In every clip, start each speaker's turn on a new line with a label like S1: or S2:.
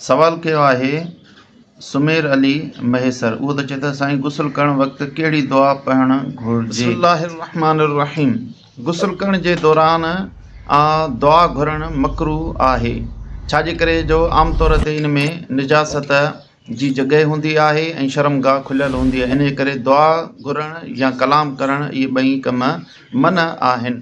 S1: سوال ڪيو آهي سمير علي مهيسر اهو ته چئي ٿو سائين غسل ڪرڻ وقت ڪهڙي دعا پڙهڻ گهرجي. بسم الله الرحمٰن الرحيم غسل ڪرڻ جي دوران آ دعا گهرڻ مڪروه آهي ڇا جي ڪري جو عام طور تي ان ۾ نجاست جي جڳهه هوندي آهي ۽ شرم گاهه کليل هوندي آهي انهي ڪري دعا گهرڻ يا ڪلام ڪرڻ اهي ٻئي ڪم منع آهن.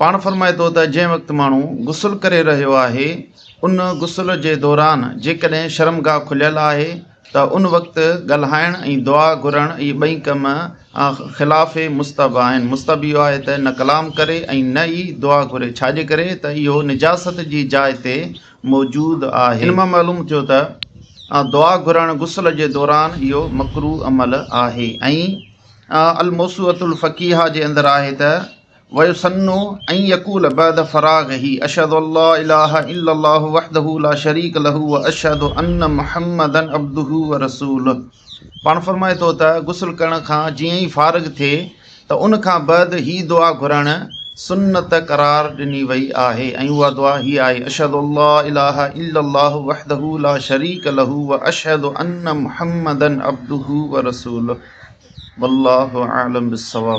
S1: پاڻ فرمائي ٿو ته جنهن وقت ماڻهو غسل ڪري رهيو آهي ان غسل جي دوران جيڪڏهن شرمگاهه کليل آهي ته ان وقت ڳالهائڻ ۽ دعا گهرڻ اهي ٻئي ڪم خلاف مستحب آهن، مستحب اهو آهي ته نه ڪلام ڪري ۽ نه ئي دعا گهري، ڇاجي ڪري ته اهو نجاست جي جاء تي موجود آهي. ان مان معلوم ٿيو ته دعا گهرڻ غسل جي دوران اهو مڪروه عمل آهي ۽ الموسوعة الفقيهه جي اندر آهي ته ويسن ان يقول بعد فراغه اشهد ان لا اله الا الله وحده لا شريڪ له واشهد ان محمدا عبده ورسوله پاڻ فرمائي ٿو ته غسل ڪرڻ کان جيئن ئي فارغ ٿئي ته ان کان بعد هي دعا گهرڻ سنت قرار ڏني وئي آهي ۽ اها دعا هي آهي اشهد ان لا اله الا الله وحده لا شريڪ له واشهد ان محمدا عبده ورسوله والله اعلم بالصواب.